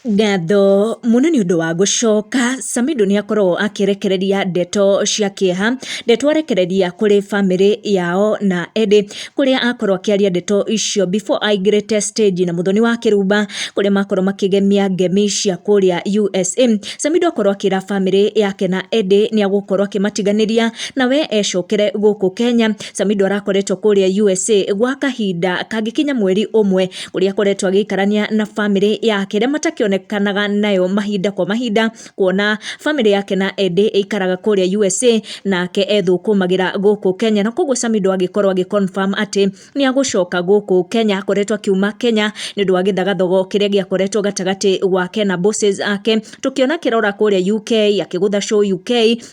Ngatho mũno nĩ ũndũ wa gũcoka. Samido nĩ akoragwo akĩrekereria ndeto cia kĩeha, ndeto arekereria kũrĩ bamĩrĩ yao na Eddy, kũrĩa akorwo akĩaria ndeto icio before aingĩrĩte stage na Muthoni wa Kĩrumba, kũrĩa makorwo makĩgemia ngemi cia kũrĩa USA. Samido akorwo akĩra bamĩrĩ yake na Eddy nĩ agũkorwo akĩmatiganĩria na we ecokere gũkũ Kenya. Samido arakoretwo kũrĩa USA gwa kahinda kangĩkinya mweri ũmwe. ũrĩa akoretwo agĩikarania na bamĩrĩ yake ĩrĩa matakĩonekanaga nayo mahinda kwa mahinda kuona bamĩrĩ yake na Eddie ĩikaraga kũrĩa USA nake ethũkũmagĩra gũkũ Kenya na koguo Samido agĩkorwo agĩ confirm atĩ nĩ agũcoka gũkũ Kenya akoretwo akiuma Kenya nĩ ũndũ wa gĩthagathogo kĩrĩa gĩakoretwo gatagatĩ gwake na bosses ake tũkĩona akĩrora kũrĩa UK akĩgũtha show UK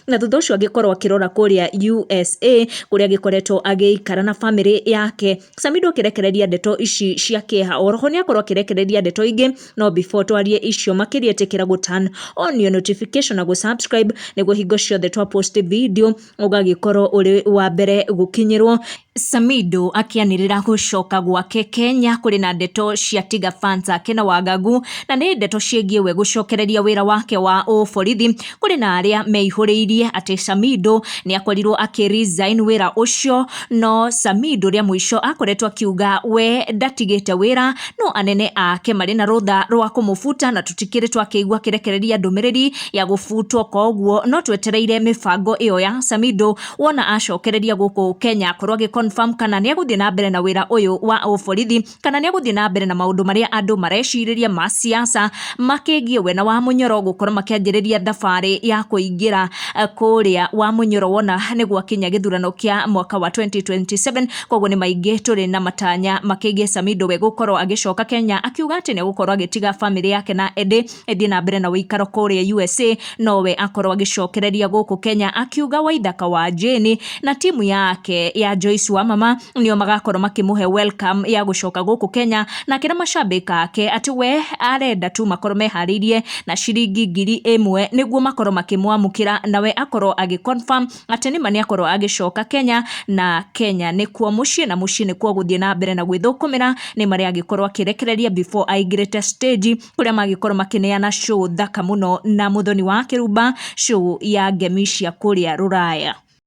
na thutha ũcio agĩkorwo akĩrora kũrĩa USA kũrĩa agĩkoretwo agĩikara na bamĩrĩ yake Sami ndũkĩrekereria ndeto ici cia kĩeha oroho nĩ akorwo akĩrekereria ndeto ingĩ no before twarie icio makĩria ĩtĩkĩra gũ turn on your notification na gũ subscribe nĩguo hingo ciothe twa post video ũgagĩkorwo ũrĩ wa mbere gũkinyĩrwo Samido akĩanĩrĩra gũcoka gwake Kenya kũrĩ na ndeto cia Tiga fans ake na wagagu na nĩ ndeto ciĩgiĩ we gũcokereria wĩra wake wa ũborithi kũrĩ na arĩa meihũrĩirie atĩ Samido nĩ akorirwo akĩ resign wĩra ũcio no Samido rĩa mũico akoretwo akiuga we ndatigĩte wĩra no anene ake marĩ na rũtha rwa kũmũbuta na tũtikĩrĩ twakĩigua kĩrekereria ndũmĩrĩri ya gũbutwo koguo no twetereire mĩbango ĩyo ya Samido wona acokereria gũkũ Kenya akorwo agĩ confirm kana nĩ egũthiĩ na mbere na wĩra ũyũ wa ũborithi kana nĩ egũthiĩ na mbere na maũndũ marĩa andũ marecirĩria ma ciaca makĩgiĩ we na Wamũnyoro gũkorwo makĩanjĩrĩria thabarĩ ya kũingĩra eh, kũrĩa Wamũnyoro wona nĩ gwakinya gĩthurano kĩa mwaka wa 2027 koguo nĩ maingĩ tũrĩ na matanya makĩgiĩ Samido we gũkorwo agĩcoka Kenya akiuga atĩ nĩ egũkorwo agĩtiga bamĩrĩ yake na ĩndĩ ĩthiĩ na mbere na ũikaro kũrĩa USA nowe akorwo agĩcokereria gũkũ Kenya akiuga Waithaka wa Jane na timu yake ya Joyce wa mama nĩo magakorwo makĩmũhe welcome ya gũcoka gũkũ Kenya na akĩra macambĩki ake atĩ we arenda tu makorwo meharĩirie na ciringi ngiri ĩmwe nĩguo makorwo makĩmwamũkĩra nawe akorwo agĩ confirm atĩ nĩma nĩ akorwo agĩcoka Kenya na Kenya nĩkuo mũciĩ na mũciĩ nĩkuo gũthiĩ na mbere na gwĩthũkũmĩra nĩma nĩ agĩkorwo akĩrekereria before aingĩrĩte stage kũrĩa magĩkorwo makĩneana show thaka mũno na mũthoni wa kĩrumba, show ya ngemi cia kũrĩa rũraya.